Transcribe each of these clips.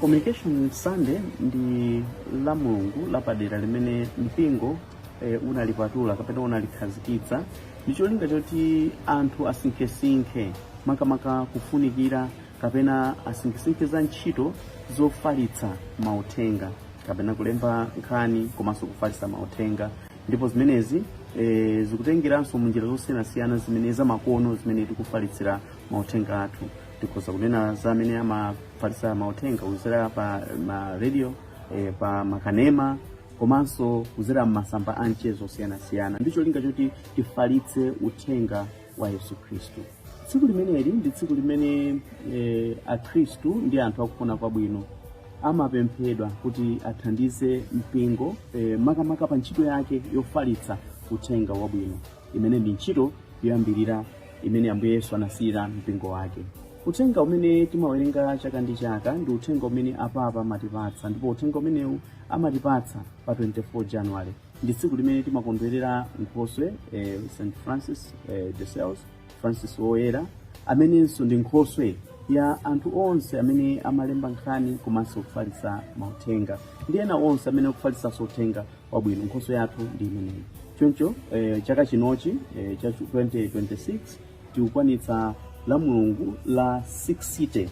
communication sunday ndi la mulungu lapadera limene mpingo eh, unalipatula kapena unalikhazikitsa ndi cholinga choti anthu asinkhesinkhe makamaka kufunikira kapena asinkhesinkhe za ntchito zofalitsa mauthenga kapena kulemba nkhani komanso kufalitsa mauthenga ndipo zimenezi e, zikutengeranso munjira zosiyanasiyana zimene zamakono zimene tikufalitsira mauthenga athu tikhoza kunena za amene amafalitsa mauthenga kuzera pa ma radio e, pa makanema komanso kuzera m'masamba a mchezo osiyanasiyana ndi cholinga choti tifalitse uthenga wa yesu khristu tsiku limeneli ndi tsiku limene eh, akhristu ndi anthu akufuna kwabwino amapemphedwa kuti athandize mpingo eh, makamaka pa ntchito yake yofalitsa uthenga wabwino imene ndi ntchito yoyambirira imene ambuye yesu anasiyira mpingo wake uthenga umene timawerenga chaka ndi chaka ndi uthenga umene apapa amatipatsa ndipo uthenga umenewu amatipatsa pa 24 january ndi tsiku limene timakondwerera nkhoswe eh, st francis eh, de sales francis woyera amenenso ndi nkhoswe ya anthu onse amene amalemba nkhani komanso kufalitsa mauthenga ndi ena onse amene akufalitsanso uthenga wabwino nkhoswe yathu ndi imeneyi choncho eh, chaka chinochi eh, cha 2026 tikukwanitsa la mulungu la 60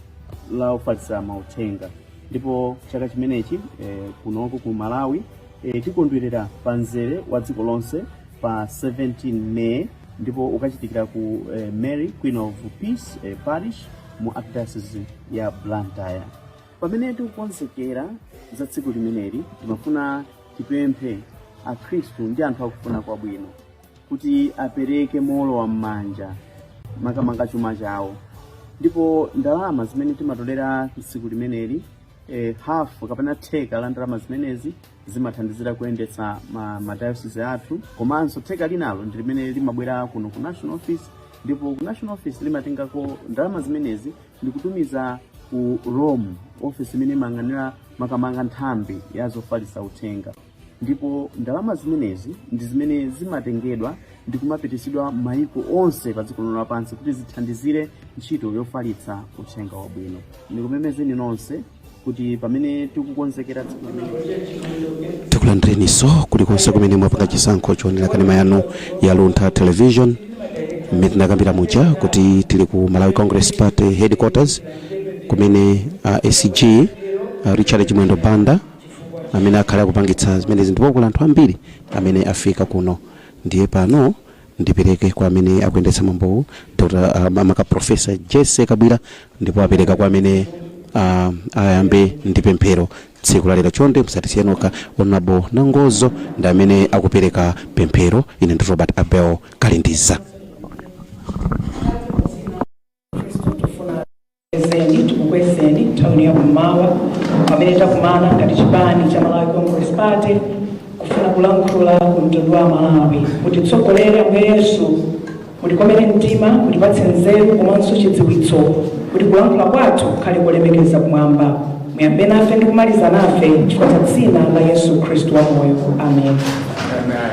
la ofalitsa mauthenga ndipo chaka chimenechi eh, kunoko ku malawi E, tikondwerera pa mzere wa dziko lonse pa 17 May ndipo ukachitikira ku e, Mary Queen of Peace e, Parish mu Archdiocese ya Blantyre. Pamene tikukonzekera za tsiku limeneli, timafuna tipemphe Akhristu ndi anthu akufuna kwabwino kuti apereke mowolowa m'manja makamaka chuma chawo ndipo ndalama zimene timatolera tsiku limeneli e, hafu kapena theka la ndalama zimenezi zimathandizira kuyendetsa ma, ma diocese athu komanso theka linalo ndi limene limabwera kuno ku national office ndipo ku national office limatengako ndalama zimenezi ndikutumiza ku rome office imene imayang'anira makamaka nthambi ya zofalitsa uthenga ndipo ndalama zimenezi ndi zimene zimatengedwa ndi kumapitisidwa maiko onse pa dziko lino lapansi kuti zithandizire ntchito yofalitsa uthenga wabwino ndikumemezeni nonse kuti pamene tikukonzekera tsiku limeneli tikulandireninso kulikonse kumene mwapanga chisankho choonera kanema yanu ya luntha television mmene tinakambira muja kuti tili ku malawi congress party headquarters kumene uh, a sg a richard chimwendo banda amene akhala akupangitsa zimenezi ndipo kuli anthu ambiri amene afika kuno ndiye pano ndipereke kwa amene akuyendetsa mwambowu dr ah, maka profesa jesse kabwira ndipo apereka kwa amene ah, ayambe ndi pemphero tsiku lalero chonde musatisiye nokha honorable nangozo ndi amene akupereka pemphero ine ndi robert abel kalindiza Tikukwezeni, tikukwezeni nthawi ino yakummawa pamene takumana ngati chipani cha Malawi Congress Party kufuna kulankhula ku mtundu wa Malawi kutitsogolere Ambuye Yesu mutikomere mtima mutipatse nzeru komanso chidziwitso kuti kulankhula kwathu kukhale kolemekeza kumwamba muyambe nafe ndi kumaliza nafe chifukwa cha dzina la Yesu Khristu wamoyo amen Amen.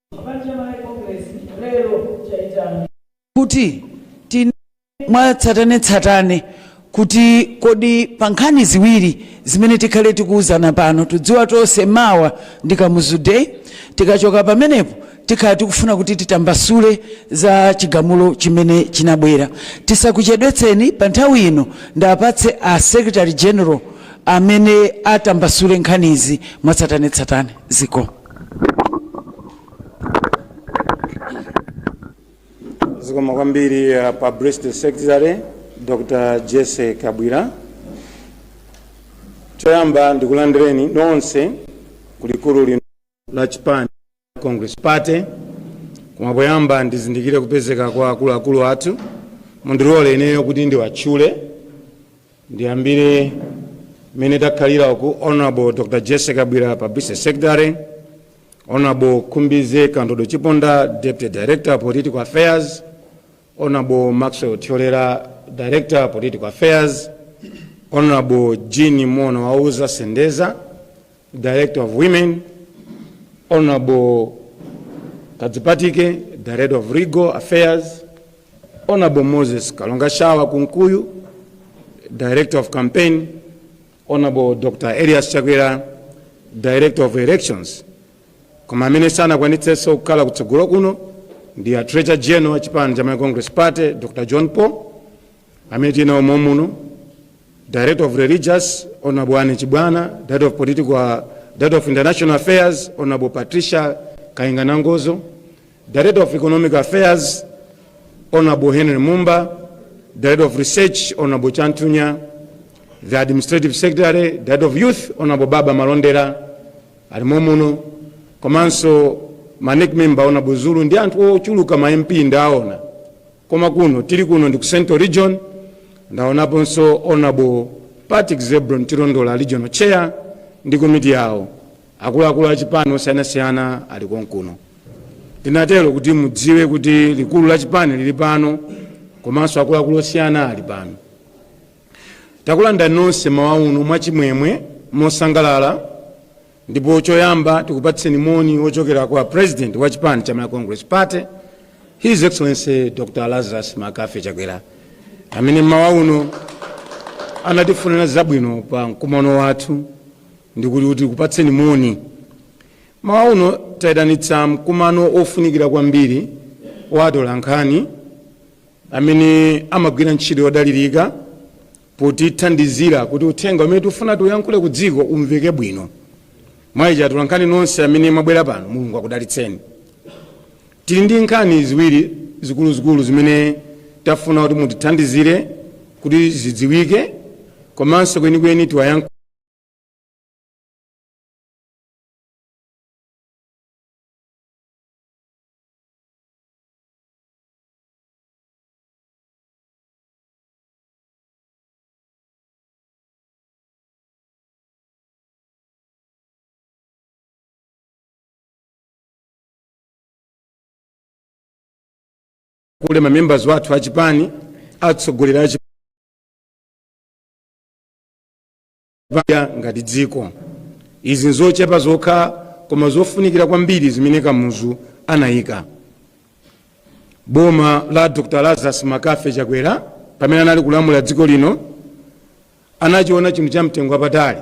kuti tinene mwatsatanetsatane kuti kodi pa nkhani ziwiri zimene tikhale tikuwuzana pano tudziwa tonse mawa ndi kamuzu day tikachoka pamenepo tikhala tikufuna kuti titambasule za chigamulo chimene chinabwera tisakuchedwetseni pa nthawi ino ndipatse a secretary general amene atambasule nkhanizi mwatsatanetsatane ziko zikomo kwambiri uh, publicity secretary dr jesse kabwira choyamba ndikulandireni nonse kulikulu lino la chipani cha congress party koma poyamba ndizindikire kupezeka kwa akuluakulu athu mundilole ineyo kuti ndiwatchule Ndiyambire mmene takhalira ku Honorable Dr. Jesse Kabwira, Publicity Secretary, Honorable Khumbize Kandodo Chiponda, Deputy Director, Political Affairs, Honorable Maxwell Thyolera, Director, Political Affairs, Honorable Jean Mona Wauza Sendeza, Director of Women, Honorable Kadzipatike, Director of Legal Affairs, Honorable Moses Kalonga Shawa Kunkuyu, Director of Campaign, Honorable Dr. Elias Chakwera, Director of Elections. Koma amene sanakwanitsenso kukhala kutsogolo kuno ndi a Treasurer General wa chipani cha Malawi Congress Party, Dr. John Paul, amene tili nawo momuno director of religious honorable ane chibwana director of political director of international affairs honorable patricia kainga nangozo director of economic affairs honorable henry mumba director of research honorable chantunya the administrative secretary director of youth honorable baba malondera ali momuno komanso manek member honorable zulu ndi anthu ochuluka ma mp ndaona Koma kuno, tili kuno ndi ku Central Region, ndaonaponso Hon. Patrick Zebron Chilondola, Regional Chair, ndi komiti yawo. Akuluakulu a chipani osiyanasiyana ali konkuno. Ndikutero kuti mudziwe kuti likulu la chipani lili pano komanso akuluakulu osiyana ali pano. Takulandirani nonse m'mawa uno mwachimwemwe, mosangalala. Ndipo choyamba tikupatseni moni wochokera kwa President wa chipani cha Malawi Congress Party, His Excellency Dr. Lazarus McCarthy Chakwera, amene mmawa uno anatifunira zabwino pa mkumano wathu ndikuti kuti tikupatseni moni. Mmawa uno tayitanitsa mkumano ofunikira kwambiri wa atolankhani amene amagwira ntchito yodalirika potithandizira kuti uthenga umene tifuna tiuyankhule ku dziko umveke bwino. Mwa ichi atolankhani nonse amene mwabwera pano, Mulungu akudalitseni. Tili ndi nkhani ziwiri zikuluzikulu zimene tafuna kuti mutithandizire kuti zidziwike komanso kwenikweni tiwayankhule. kule mamembers wathu a chipani atsogoleri a chipa paya ngati dziko izi nzochepa zokha koma zofunikira kwambiri zimene kamuzu anayika boma la dr lazarus McCarthy chakwera pamene anali kulamula dziko lino anachiona chinthu cha mtengo wapatali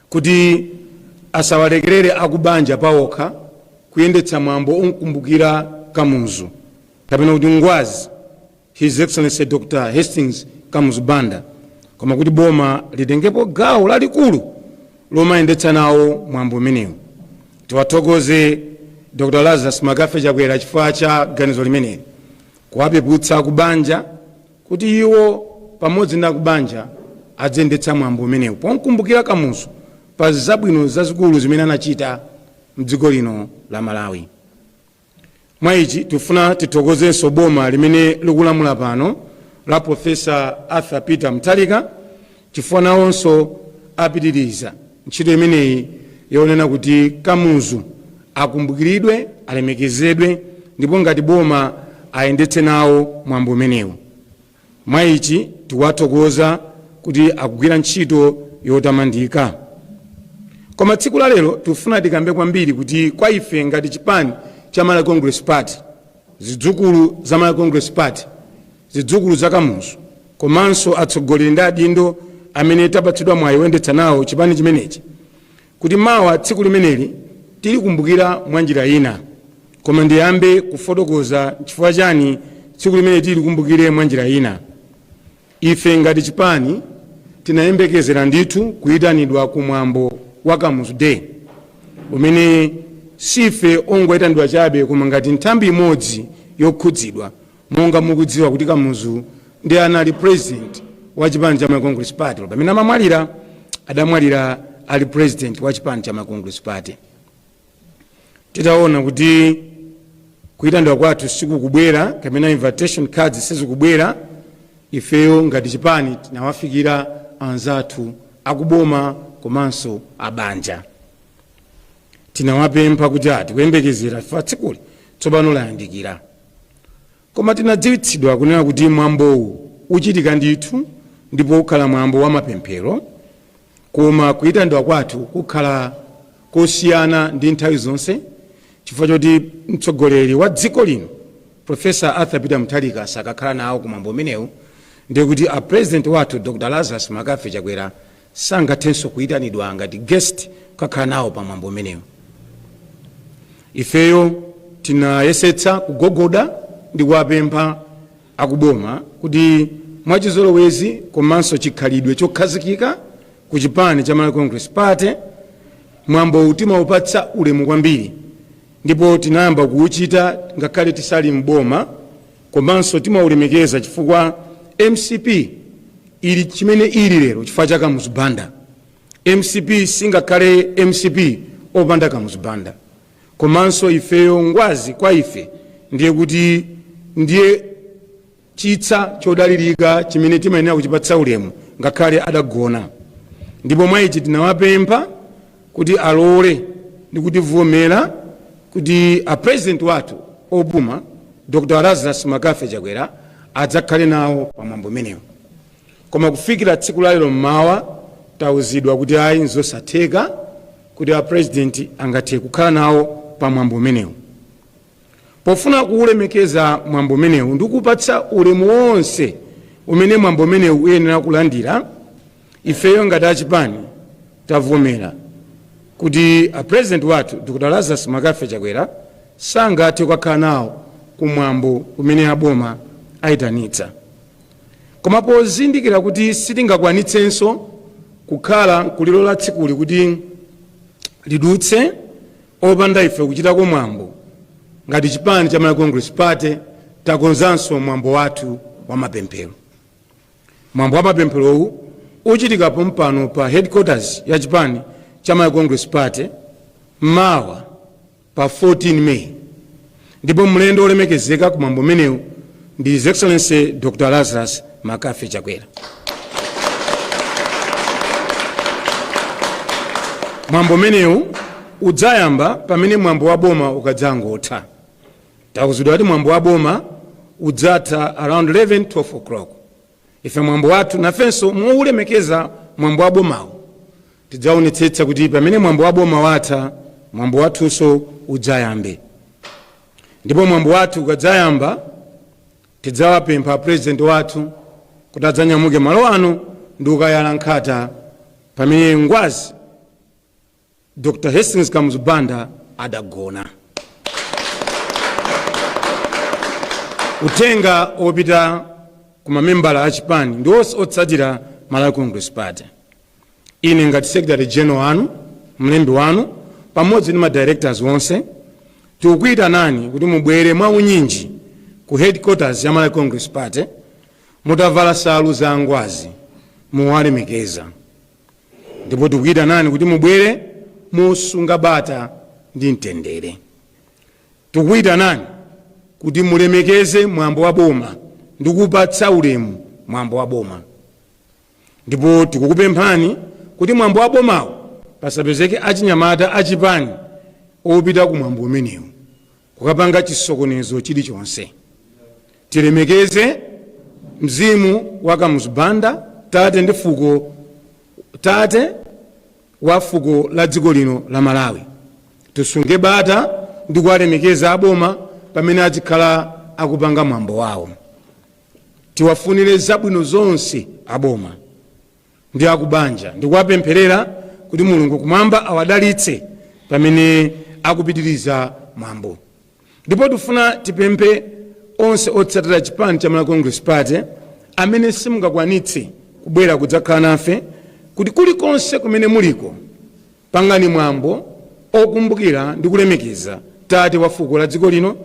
kuti asawalekerere akubanja pawokha kuyendetsa mwambo omkumbukira kamuzu kapena kuti ngwazi His Excellency Dr. Hastings Kamuzu Banda koma kuti boma litengepo gawo lalikulu lomayendetsa nawo mwambo umenewu. Tiwathokoze Dr. Lazarus McCarthy Chakwera chifukwa cha ganizo limeneli kuwapeputsa akubanja kuti iwo pamodzi ndi akubanja adziyendetsa mwambo umenewu pomkumbukira Kamuzu pa zabwino zazikulu zimene anachita mdziko lino la Malawi. Mwa ichi tikufuna tithokozenso boma limene likulamula pano la Prof. Arthur Peter Mutharika chifukwa nawonso apitiriza ntchito imeneyi yoona kuti Kamuzu akumbukiridwe, alemekezedwe ndipo ngati boma ayendetse nawo mwambo umenewu. Mwa ichi, tikuwathokoza kuti akugwira ntchito yotamandika. Koma tsiku la lero tikufuna tikambe kwambiri kuti kwa ife ngati chipani cha Malawi Congress Party, zidzukulu za Malawi Congress Party, zidzukulu za Kamuzu komanso atsogoleri ndi adindo amene tapatsidwa mwayi woyendetsa nawo chipani chimenechi, Kuti mawa tsiku limeneli tilikumbukira mwa njira ina, koma ndiyambe kufotokoza nchifukwa chani tsiku limeneli tilikumbukire mwa njira ina. Ife ngati chipani tinayembekezera ndithu kuitanidwa ku mwambo wa Kamuzu Day umene siife ongoitanidwa chabe koma ngati nthambi imodzi yokhudzidwa, Monga mukudziwa kuti Kamuzu ndiye anali president wa chipani cha Malawi Congress Party. Pamene amamwalira, adamwalira ali president wa chipani cha Malawi Congress Party. Titaona kuti kuyitanidwa kwathu sikukubwera kapena invitation cards sizikubwera, ifeyo ngati chipani tinawafikira anzathu akuboma komanso abanja. Tinawapempha kuti tili kuyembekezera chifukwa tsikuli tsopano layandikira. Koma tinadziwitsidwa kunena kuti mwambowu uchitika ndithu ndipo ukhala mwambo wa mapemphero koma kuyitanidwa kwathu kukhala kosiyana ndi nthawi zonse chifukwa choti mtsogoleri wa dziko lino Prof. Arthur Peter Mutharika sakakhala nawo ku mwambo umenewu ndiye kuti a President wathu Dr. Lazarus Mccarthy Chakwera sangathenso kuitanidwa ngati guest kukakhala nawo pa mwambo umenewu. Ifeyo tinayesetsa kugogoda ndi kuwapempha akuboma kuti mwachizolowezi komanso chikhalidwe chokhazikika ku chipani cha Malawi Congress Party, mwambowu timaupatsa ulemu kwambiri ndipo tinayamba kuuchita ngakhale tisali m'boma. Komanso timaulemekeza chifukwa mcp ili chimene ili lero chifukwa cha Kamuzu Banda. Mcp singakhale mcp opanda Kamuzu Banda. Komanso ifeyo Ngwazi kwa ife ndiye kuti ndiye chitsa chodalilika chimene timayenera kuchipatsa ulemu ngakhale adagona. Ndipo mwa ichi tinawapempha kuti alole ndi kutivomera kuti a president wathu opuma Dr Lazarus Mccarthy Chakwera adzakhale nawo pa mwambo umenewu. Koma kufikira tsiku la lero mmawa tauzidwa kuti ayi nzosatheka kuti a president angathe kukhala nawo pa mwambo umenewu. Pofuna kuulemekeza mwambo umenewu ndi kuupatsa ulemu wonse umene mwambo umenewu uyenera kulandira, ifeyo ngati a chipani tavomera kuti a President wathu Dr Lazarus Mccarthy Chakwera sangathe kukakhala nawo ku mwambo umene a boma aitanitsa. Koma pozindikira kuti sitingakwanitsenso kukhala nkulilola tsikuli kuti lidutse, Opanda ife kuchitako mwambo, ngati chipani cha Malawi Congress Party takonzanso mwambo wathu wa mapemphero. Mwambo wa mapempherowu uchitika pompano pa headquarters ya chipani cha Malawi Congress Party mawa pa 14 May. Ndipo mlendo olemekezeka ku mwambo umenewu ndi His Excellency Dr. Lazarus McCarthy Chakwera. Mwambo umenewu udzayamba pamene mwambo wa boma ukadzangotha. Tauzidwa kuti mwambo wa boma udzatha around 11 12 o'clock. ife mwambo wathu nafenso moulemekeza mwambo wa bomawo tidzaonetsetsa kuti pamene mwambo wa boma watha mwambo wathunso udzayambe ndipo mwambo wathu ukadzayamba tidzawapempha apurezidenti wathu kuti adzanyamuke malo ano ndi kukayala nkhata pamene ngwazi dr hastings kamuzu banda adagona uthenga opita ku mamembala a chipani ndi onse otsatira malawi congress party ine ngati secretary general wanu mlembi wanu pamodzi ndi madirectors onse tikukuyitanani kuti mubwere mwa unyinji ku headquarters ya malawi congress party mutavala salu za angwazi mowalemekeza ndipo tikukuyitanani kuti mubwere mosunga bata ndi mtendere tikukuyitanani kuti mulemekeze mwambo wa boma ndi kupatsa ulemu mwambo wa boma ndipo tikukupemphani kuti mwambo wa bomawo pasapezeke achinyamata achipani opita ku mwambo umenewu kukapanga chisokonezo chilichonse. Tilemekeze mzimu wa Kamuzu Banda, tate ndi fuko, tate wa fuko la dziko lino la Malawi. Tisunge bata ndi kuwalemekeza a boma pamene adzikhala akupanga mwambo wawo. Tiwafunire zabwino zonse a boma. ndi akubanja ndikuwapempherera kuti Mulungu kumwamba awadalitse pamene akupitiriza mwambo. Ndipo tifuna tipemphe onse otsatira chipani cha Malawi Congress Party amene simungakwanitse kubwera kudzakhala nafe kuti kulikonse kumene muliko pangani mwambo okumbukira ndi kulemekeza tate wa fuko la dziko lino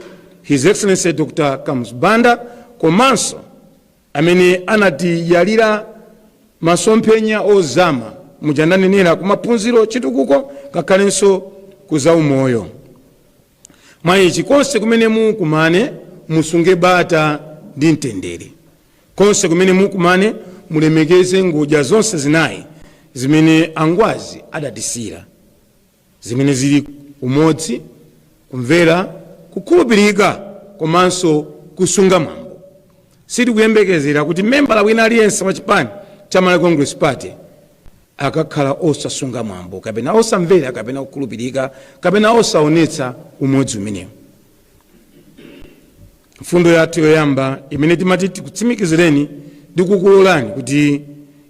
His Excellency Dr. Kamuzu Banda komanso amene anatiyalira masomphenya ozama muja ndanenera kumaphunziro chitukuko ngakhalenso ku zaumoyo mwaichi konse kumene mukumane musunge bata ndi mtendere konse kumene mukumane mulemekeze ngodya zonse zinayi zimene angwazi adatisiira zimene zili umodzi, kumvera, kukhulupirika komanso kusunga mwambo. Sitikuyembekezera kuti membala wina aliyense wa chipani cha Malawi Congress Party akakhala osasunga mwambo kapena osamvera kapena kukhulupirika kapena osaonetsa umodzi umenewu. mfundo yathu yoyamba imene timati tikutsimikizireni ndi kukulolani kuti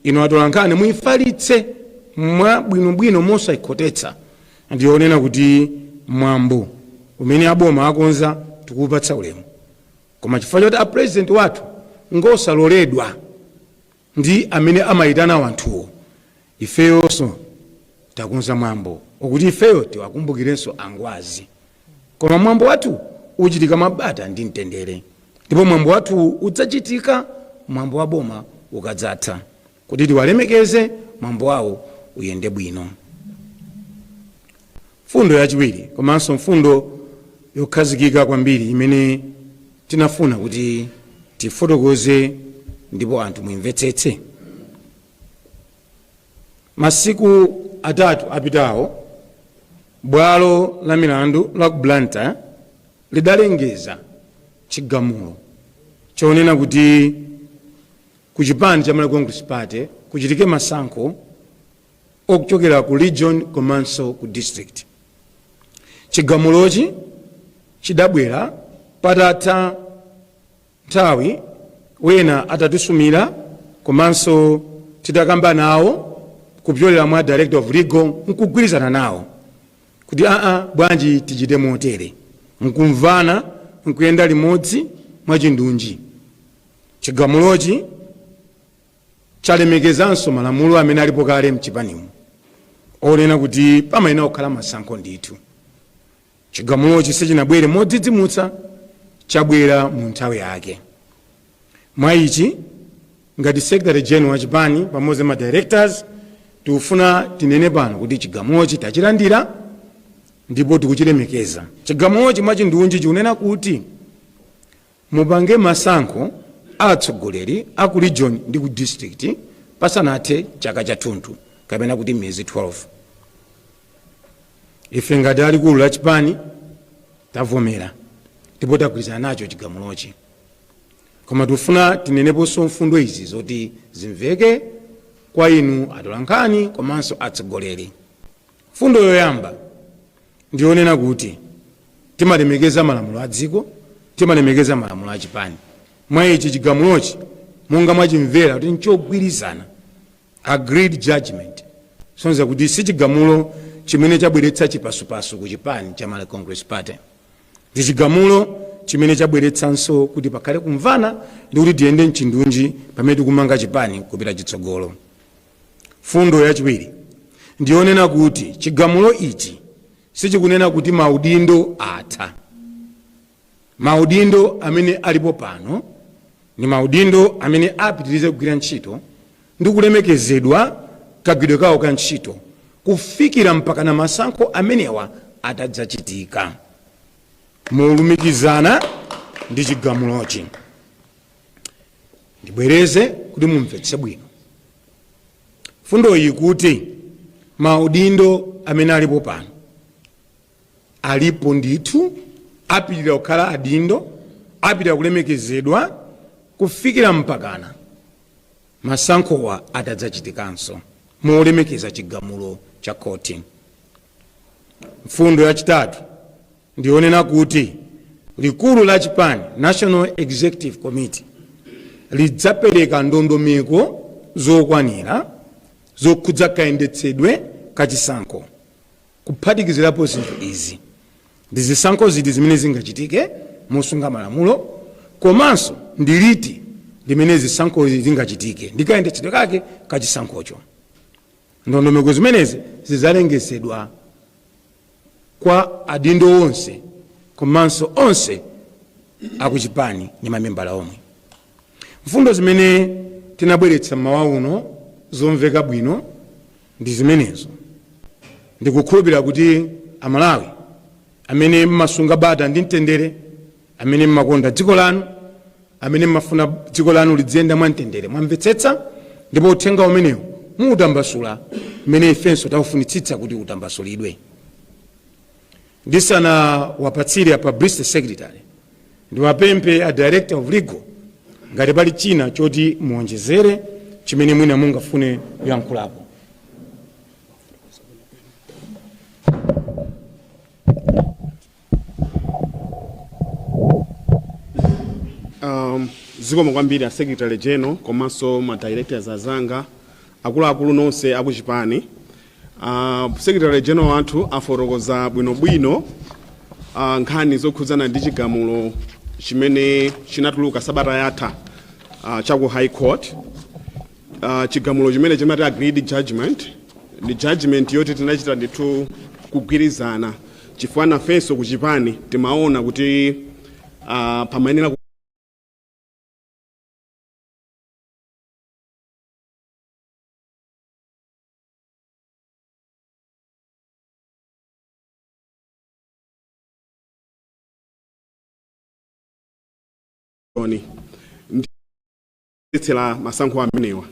inu atolankhani muifalitse mwa bwinobwino mosaikhotetsa ndi yonena kuti mwambo umene a boma akonza tikuupatsa ulemu koma chifukwa choti a Purezidenti wathu ngosaloledwa ndi amene amaitana anthuwo. Ifeyonso takonza mwambo wokuti ifeyo tiwakumbukirenso a Ngwazi. Koma mwambo wathu uchitika mwa bata ndi mtendere ndipo mwambo wathuwu udzachitika mwambo wa boma ukadzatha kuti tiwalemekeze mwambo wawo uyende bwino. Mfundo yachiwiri komanso mfundo yokhazikika kwambiri imene tinafuna kuti tifotokoze ndipo anthu muimvetsetse, Masiku atatu apitawo, bwalo la milandu la ku Blantyre lidalengeza chigamulo chonena kuti ku chipani cha Malawi Congress Party kuchitike masankho a kuchokera ku region komanso ku district chigamulochi chidabwera patatha nthawi ena atatisumira komanso titakamba nawo kupyolera mwa director of legal nkugwirizana nawo kuti aa bwanji tichite motere nkumvana nkuyenda limodzi mwachindunji chigamulochi chalemekezanso malamulo amene alipo kale mchipanimu onena kuti pamayenera kukhala masankho ndithu. Chigamulochi sichinabwere modzidzimutsa, chabwera mu nthawi yake. Mwa ichi, ngati Secretary General wa chipani pamodzi ndi ma Directors, tikufuna tinene pano kuti chigamulochi tachilandira ndipo tikuchilemekeza. Chigamulochi mwachindunji chikunena kuti Mupange masankho a atsogoleri a ku region ndi ku district pasanathe chaka chathunthu kapena kuti miyezi 12. Ife ngati a likulu la chipani tavomera ndipo tagwirizana nacho chigamulochi koma tikufuna tineneponso mfundo izi zoti zimveke kwa inu atolankhani komanso atsogoleri Mfundo yoyamba ndi yonena kuti timalemekeza malamulo a dziko, timalemekeza malamulo a chipani. Mwa ichi, chigamulochi monga mwachimvera kuti nchogwirizana, agreed judgement, kusonyeza kuti si chigamulo chimene chabweretsa chipasupasu ku chipani cha Malawi Congress Party. Ndi chigamulo chimene chabweretsanso kuti pakhale kumvana ndi kuti tiyende m'chindunji pamene tikumanga chipani kupita chitsogolo. Mfundo yachiwiri ndi yonena kuti chigamulo ichi sichikunena kuti maudindo atha. Maudindo amene alipo pano ndi maudindo amene apitirize kugwira ntchito ndi kulemekezedwa kagwiridwe kawo ka ntchito kufikira mpakana masankho amenewa atadzachitika. Molumikizana ndi chigamulochi. ndibwereze kuti mumvetse bwino mfundoyi kuti maudindo amene alipo pano alipo ndithu apitira kukhala adindo apitira kulemekezedwa kufikira mpakana masankhowa atadzachitikanso molemekeza chigamulo cha khoti mfundo yachitatu ndiyonena kuti likulu la chipani national executive committee lidzapereka ndondomeko zokwanira zokhudza kayendetsedwe ka chisankho kuphatikizirapo zinthu izi ndi zisankho ziti zimene zingachitike mosunga malamulo komanso ndi liti limene zisankhozi zingachitike ndi kayendetsedwe kake ka chisankhocho Ndondomeko zimenezi zidzalengezedwa kwa adindo onse komanso onse akuchipani ndi mamembala omwe. Mfundo zimene tinabweretsa m'mawa uno zomveka bwino ndi zimenezo. Ndikukhulupirira kuti a Malawi amene m'masunga bata ndi mtendere, amene mmakonda dziko lanu, amene mmafuna dziko lanu lidziyenda mwamtendere. Mwamvetsetsa ndipo uthenga umenewu muutambasula mmene ifenso taufunitsitsa kuti utambasulidwe. Ndisanawapatsire a Publicity Secretary, ndiwapemphe a Director of Legal ngati pali china choti muonjezere chimene mwina mungafune kuyankhulapo. um, zikomo kwambiri a secretary general komanso ma directors azanga akuluakulu nonse akuchipani uh, secretary general wathu afotokoza bwinobwino uh, nkhani zokhudzana ndi chigamulo chimene chinatuluka sabata yatha uh, cha ku high court Uh, chigamulo chimene timati agreed judgment ndi judgment yoti tinachita ndithu kugwirizana chifukwa nafenso kuchipani timaona kuti uh, pamayenera kutsitsila masankho amenewa.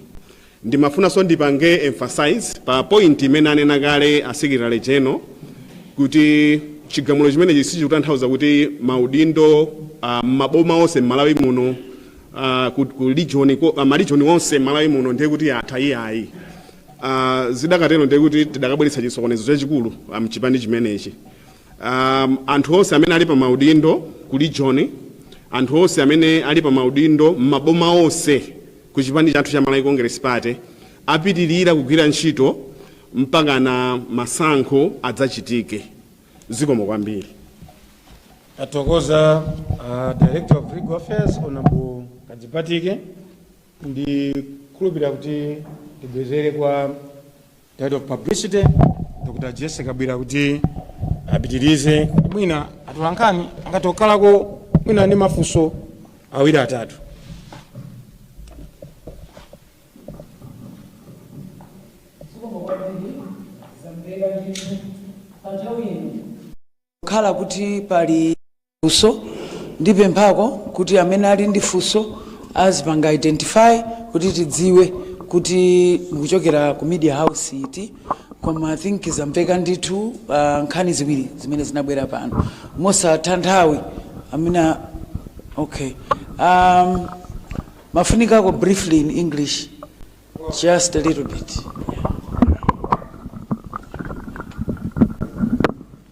Ndimafunanso ndipange emphasize pa point imene anena kale a Secretary General kuti chigamulo chimenechi sichikutanthauza kuti maudindo ah, m'maboma onse m'Malawi muno ah, ku- ku region ko- ah, marijoni onse m'Malawi muno ndiye kuti atha iyayi. Ah, zidakatero ndiye kuti tidakabweretsa chisokonezo chachikulu ah, mchipani chimenechi. Um, anthu onse amene ali pa maudindo ku region, anthu onse amene ali pa maudindo m'maboma onse ku chipani chathu cha Malawi Congress Party apitirira kugwira ntchito mpakana masankho adzachitike. Zikomo kwambiri. Tathokoza uh, Director of Legal Affairs Honorable Kadzipatike ndikukhulupirira kuti tibwezere kwa Head of Publicity Dr. Jessie Kabwila kuti apitirize kuti mwina atolankhani angatokhalako mwina ndi mafunso awiri atatu kukhala kuti pali funso. Ndipemphako kuti amene ali ndi funso azipanga identify kuti tidziwe kuti mukuchokera ku media house iti koma I think zamveka ndithu uh, nkhani ziwiri zimene zinabwera pano mosatha nthawi amene okay um, mumafunikako briefly in english just a little bit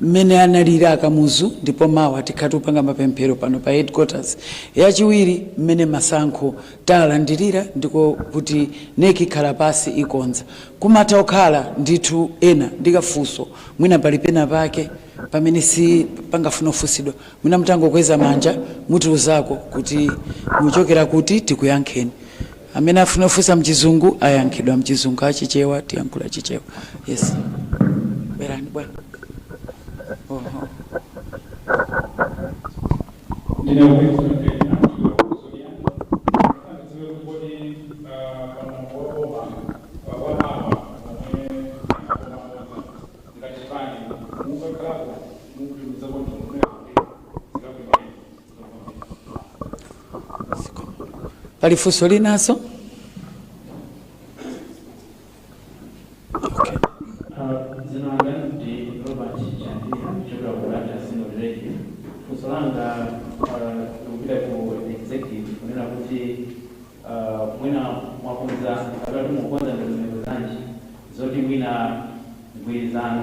mmene analili a kamuzu ndipo mawa tikhala tikupanga mapemphero pano pa headquarters yachiwiri mmene masankho talandirira ndiye kuti NEC ikhala pansi ikonza kumatha kukhala ndithu ena ndi kafunso mwina pali pena pake pamene chimene pangafune kufunsidwa mwina mutangokweza manja mutiuzako kuti muchokera kuti tikuyankheni amene afuna kufunsa mchizungu ayankhidwa mchizungu achichewa tiyankhula chichewa yes bwerani bwana oho pali funso linanso dzina langa ndi robert chandira kuchokera ku Blantyre Synod radio funso langa ah, likupita ku executive kunena kuti ah, mwina mwakonza kapena kuti mukukonza ndondomeko zanji zoti mwina mgwirizano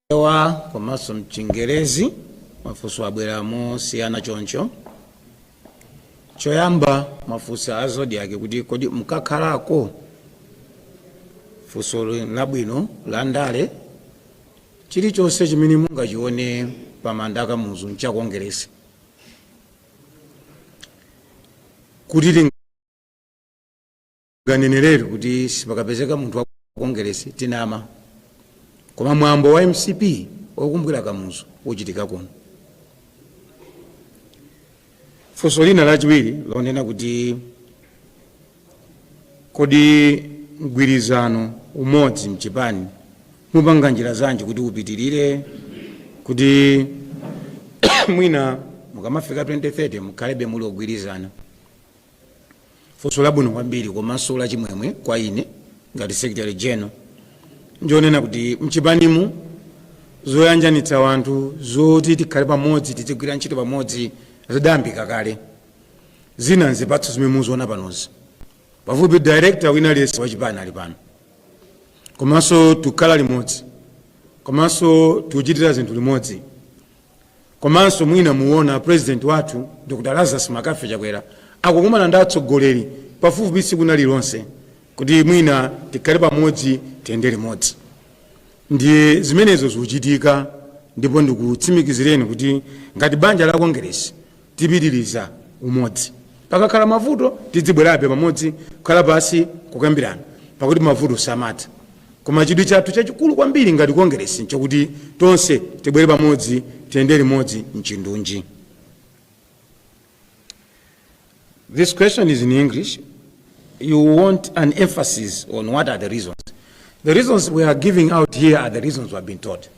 Chichewa komanso m'Chingerezi. Mafunso abwera mosiyana choncho. Choyamba mwafunsa a Zodiak kuti, Kodi mukakhalako? Funsoli n'labwino, landale. Chilichonse chimene mungachione pamanda pa Kamuzu n'cha Kongeresi. Kuti ting. kaneneretu kuti sipakapezeka munthu wa kongeresi tinama koma mwambo wa mcp wokumbukira kamuzu uchitika kuno funso lina lachiwiri lonena kuti kodi mgwirizano umodzi mchipani mupanga njira zanji kuti upitirire kuti mwina mukamafika 2030 mukhalebe muli ogwirizana funso labwino kwambiri komanso lachimwemwe kwa ine ngati secretary general ndi lonena kuti mchipanimu zoyanjanitsa wanthu zoti tikhale pamodzi tizigwira ntchito pamodzi zidayambika kale zina nzipatso zimene mukuziona panozi pafupi director wina aliyense wachipani ali pano komanso tikukhala limodzi komanso tikuchitira zinthu limodzi komanso mwina mukuona president wathu dr lazarus McCarthy chakwera akukumana ndi atsogoleri pafupifupi tsiku lina lililonse kuti mwina tikhale pamodzi tiyende limodzi ndiye zimenezo zikuchitika ndipo ndikutsimikizireni kuti ngati banja la kongeresi tipitiriza umodzi. Pakakhala mavuto, tidzibwerabe pamodzi, kukhala pansi n'kukambirana, pakuti mavuto samatha. Koma chidwi chathu chachikulu kwambiri ngati Kongeresi n'chakuti tonse tibwere pamodzi, tiyende limodzi m'chindunji. This question is in English. You want an emphasis on what are the reasons. The reasons we are giving out here are the reasons we have been told.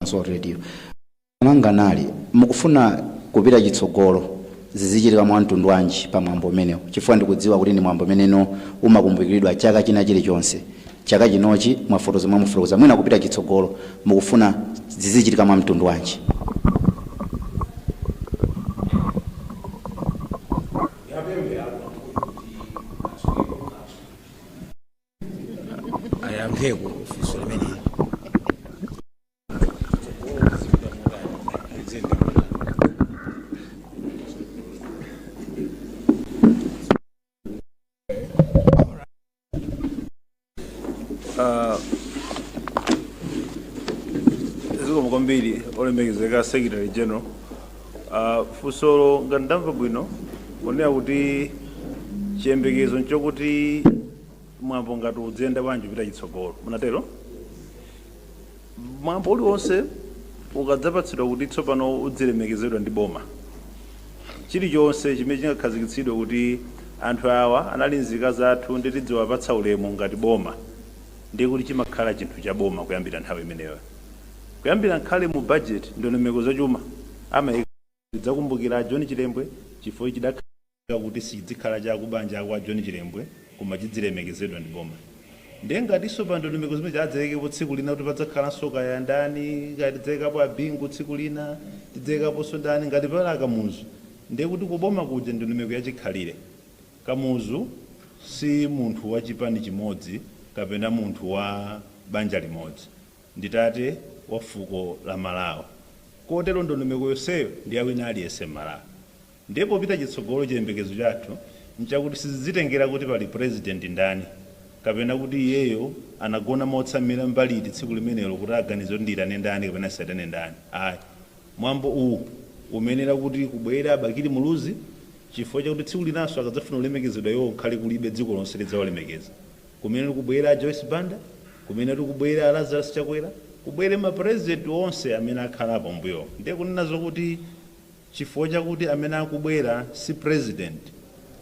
komanso radio mwanga nali mukufuna kupita chitsogolo zizichitika mwa mtundu wanji pa mwambo umenewu chifukwa ndikudziwa kuti ndi mwambo umene umakumbukiridwa chaka china chilichonse chaka chinochi mwafotokoza momwemo koma mwina kupita chitsogolo mukufuna zizichitika mwa mtundu wanji ayayankheko funso limeneli zikomo kwambiri olemekezeka secretary general Ah, funso lo ngati ndamva bwino lonena kuti chiyembekezo nchokuti mwambo ngati udziyenda bwanji kupita chitsogolo munatero mwambo uliwonse ukadzapatsidwa kuti tsopano udzilemekezedwa ndi boma chilichonse chimene chingakhazikitsidwe kuti anthu awa anali nzika zathu ndi tidziwapatsa ulemu ngati boma ndiye kuti chimakhala chinthu cha boma kuyambira nthawi imeneyo kuyambira nkhani mu budget ndondomeko zachuma amayika tidzakumbukira john chilembwe chifukwa chidakhala kuti sichidzikhala cha akubanja akwa John Chilembwe koma chidzilemekezedwa ndi boma ndiye ngatinso pa ndondomeko zimenezi adzayikepo tsiku lina kuti padzakhalanso kaya ndani kaya tidzayikapo a Bingu tsiku lina tidzayikaponso ndani ngati pali a Kamuzu ndiye kuti ku boma kuja ndi ndondomeko ya chikhalire Kamuzu si munthu wa chipani chimodzi kapena munthu wa banja limodzi ndi tate wa fuko la Malawi kotero ndondomeko yonseyo ndi ya wina aliyense m'Malawi. Ndiye popita chitsogolo chiyembekezo chathu nchakuti sizizitengera kuti pali Purezidenti ndani kapena kuti iyeyo anagona motsamira mbali iti tsiku limenelo kuti aganize kuti ndiitane ndani kapena ndisaitane ndani ayi. Mwambo uwu umayenera kuti kubwere a Bakili Muluzi chifukwa chakuti tsiku linanso akadzafuna kulemekezedwa iwowo kukhale kulibe dziko lonse lidzawalemekeza. Kumenetu kubwere a Joyce Banda, kumenetu kubwere a Lazarus Chakwera, kubwere ma Purezidenti onse amene akhalapo m'mbuyomu. Ndiye kunena zokuti. chifukwa chakuti amene akubwera si president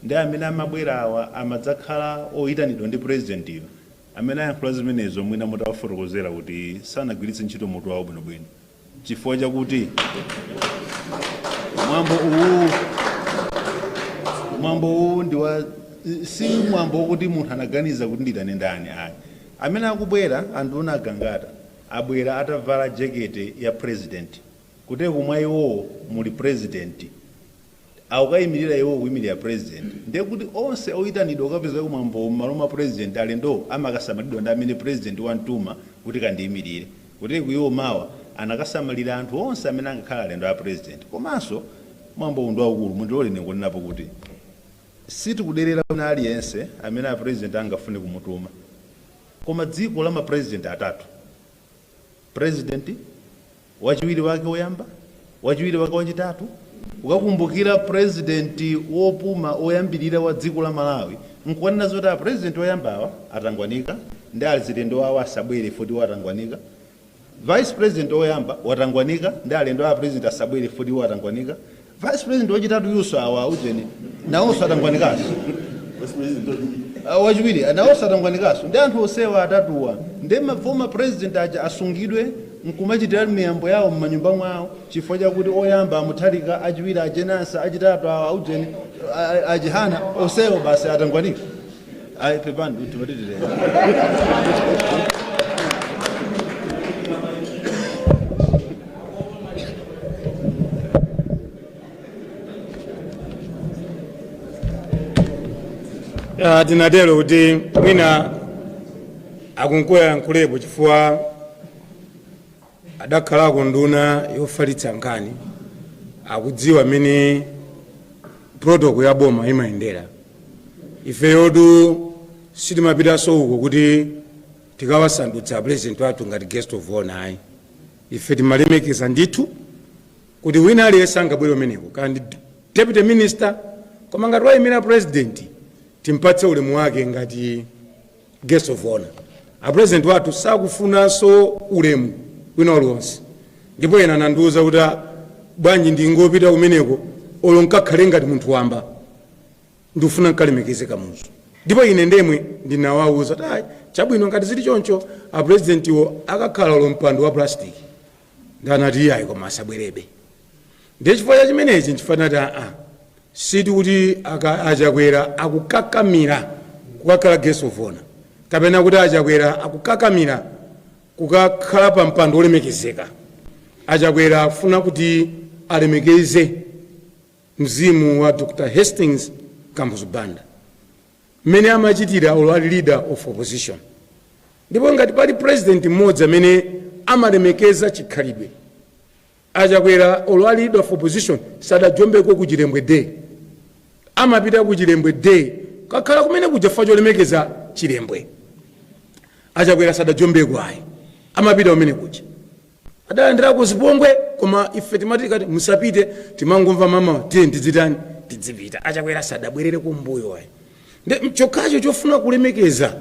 nde amene amabwera awa amadzakhala oyitanidwa ndi president yo, amene ayankhula zimenezo mwina mutawafotokozera kuti sanagwiritse ntchito mutu wawo bwino bwino chifukwa chakuti mwambo uwu mwambo uwu ndi wa si mwambo wokuti munthu anaganiza kuti nditane ndani ayi amene akubwera anduna a Gangata abwera atavala jekete ya president Kuteroko mwa iwowo muli president akukaimilira iwowo kuimilira president ndiye kuti onse oitanidwa kukapezeka ku mwambowo mmalo mwa president alendowo amakasamalidwa ndi amene president wamtuma kuti kandiimilire kuteroko iwo mawa akakasamalira anthu onse amene angakhale alendo a president komanso mwambowu ndi waukulu mundilore ine nkunenapo kuti sitikuderera wina aliyense amene a president angafune kumutuma koma dziko la ma president atatu President, wachiwiri wake oyamba, wachiwiri wake wachitatu, ukakumbukira president wopuma oyambilira wa dziko la Malawi nkukanena zoti a president oyamba awa atangwanika nde alendo awo asabwere chifukwa iwo atangwanika, vice president oyamba watangwanika nde alendo a president asabwere chifukwa iwo atangwanika, vice president wachitatuyunso awa aujeni nawonso atangwanikanso wachiwiri nawonso atangwanikanso nde anthu onsewa atatuwa ndi mafoma president aja asungidwe nkumachitira miyambo yawo m'manyumba mwawo chifukwa chakuti oyamba a Mutharika achiwiri a Jane Ansah achitatu awa aujeni a- a- a Chihana onsewo basi atangwanika ayi pepani kuti matitireni Ah, tinatero kuti mwina akuluakulu ayankhulepo chifukwa adakhalako nduna yofalitsa nkhani akudziwa mmene protocol ya boma imayendera ifeyotu sitimapitanso uko kuti tikawasandutse apresident wathu ngati guest of honor ayi ife timalemekeza ndithu kuti wina aliyense angabwere kumeneko kaya ndi deputy minister koma ngati wayimira president timpatse ulemu wake ngati Guest of Honor. A President wathu sakufunanso ulemu wina uliwonse ndipo ena anandiuza kuti ah, bwanji ndingopita kumeneko olo nkakhale ngati munthu wamba ndikufuna nkalemekeze Kamuzu ndipo ine ndemwe ndinawauza kuti ah, chabwino ngati zili choncho a Presidentiwo akakhale olo mpando wa plastic nde anati iyayi koma asabwerebe ndiye chifukwa cha chimenechi nchifukwa tinati aa sikuti aka- achakwera akukakamira kukakhala guest of honor kapena kuti achakwera akukakamira kukakhala pa mpando wolemekezeka achakwera akufuna kuti alemekeze mzimu wa dr hastings kamuzu banda mmene amachitira olo ali leader of opposition ndipo ngati pali president mmodzi amene amalemekeza chikhalidwe achakwera olo ali leader of opposition sadajombeko ku chilembwe day amapita ku chilembwe day kukakhala kumene kuja chifukwa cholemekeza chilembwe achakwera sadajombeko ayi amapita kumene kuja adalandirako zipongwe koma ife timatha kuti musapite timangomva mama tiye tizitani tizipita achakwera sadabwerere kumbuyo ayi nde nchokhacho chofuna kulemekeza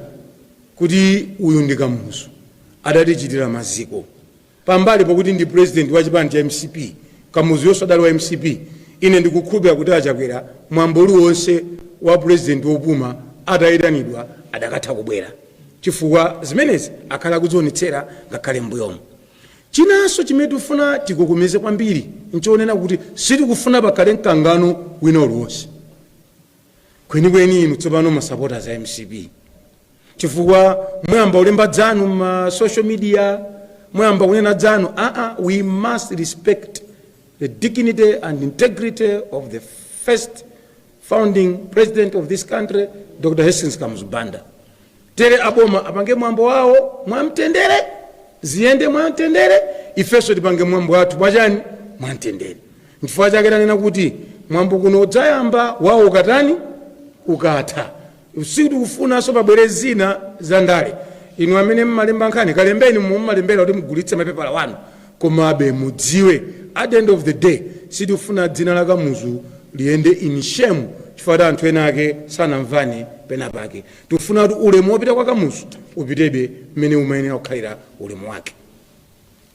kuti uyu ndi kamuzu adatiikira maziko pambali pakuti ndi president wa chipani cha mcp Kamuzuyonso adali wa mcp ine ndikukhulupira kuti achakwera mwambo uliwonse wa president wopuma atayitanidwa akadatha kubwera chifukwa zimenezi akhala akuzionetsera ngakhale m'mbuyomu. Chinanso chimene tikufuna tigogomezepo kwambiri n'chonena kuti sitikufuna pakhale mkangano wina uliwonse kwenikweni inu tsopano ma supporters a mcp chifukwa mwayamba kulemba zanu m'ma social media mwayamba kunena zanu aa we must respect the dignity and integrity of the first founding president of this country Dr Hastings Kamuzu Banda tilole aboma apange mwambo wawo mwamtendere ziyende mwamtendere ifenso tipange mwambo wathu mwachani mwamtendere nchifukwa chake tanena kuti mwambo kuno udzayamba wawo ukatani ukatha Sitifunanso pabwere zina za ndale. Inu amene mmalemba nkhani, kalembeni momwe mmalembera kuti mugulitse mapepala anu. Komabe mudziwe, at the end of the day, sitifuna dzina la Kamuzu liyende in shame chifukwa kuti anthu enaake sanamvane pena pake. Tikufuna kuti ulemu wopita kwa Kamuzu upitebe mmene umayenera kukhalira ulemu wake.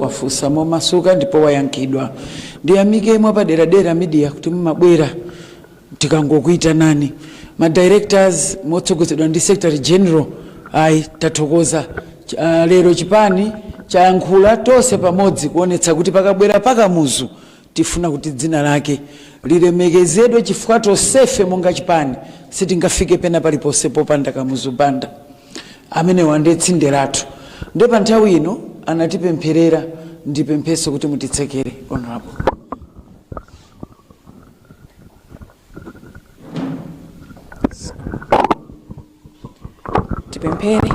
wafunsa momasuka ndipo wayankhidwa. Ndiyamike mwapaderadera media kuti mumabwera tikangokuitanani. Ma directors motsogozedwa ndi Secretary General ayi tathokoza. Lero chipani chayankhula tonse pamodzi kuonetsa kuti pakabwera pa Kamuzu Tifuna kuti dzina lake lilemekezedwe chifukwa tonsefe monga chipani sitingafike pena paliponse popanda Kamuzu Banda. Amene uja nde tsinde lathu. Nde pa nthawi ino anatipempherera ndipempheso kuti mutitsekere Hon. Tipemphere.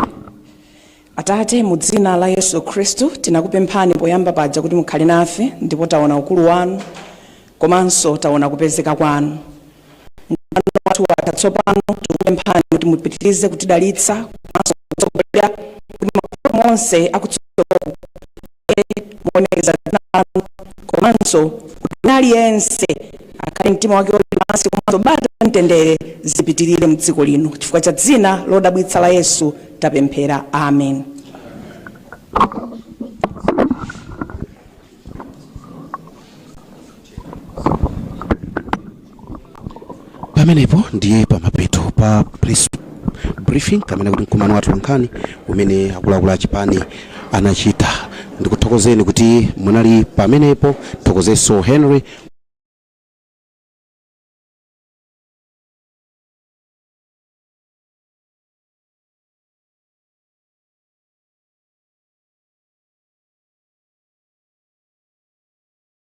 Atate, mu dzina la Yesu Khristu, tinakupemphani poyamba paja kuti mukhale nafe ndipo taona ukulu wanu komanso taona kupezeka kwanu. Mkumano wathu watha tsopano, tikupemphani kuti mupitirize kutidalitsa komanso kutsogolera kuti mapulani onse akutsogoloku muonekeze dzina lanu komanso kuti wina aliyense akhale mtima wake uli pansi komanso bata mtendere zipitirire mdziko lino chifukwa cha dzina lodabwitsa la yesu tapemphera amen pamenepo ndiye pamapeto pa press briefing kapena kuti mkumano wa atolankhani umene akuluakulu a chipani anachita ndikuthokozeni kuti munali pamenepo ndithokozenso henry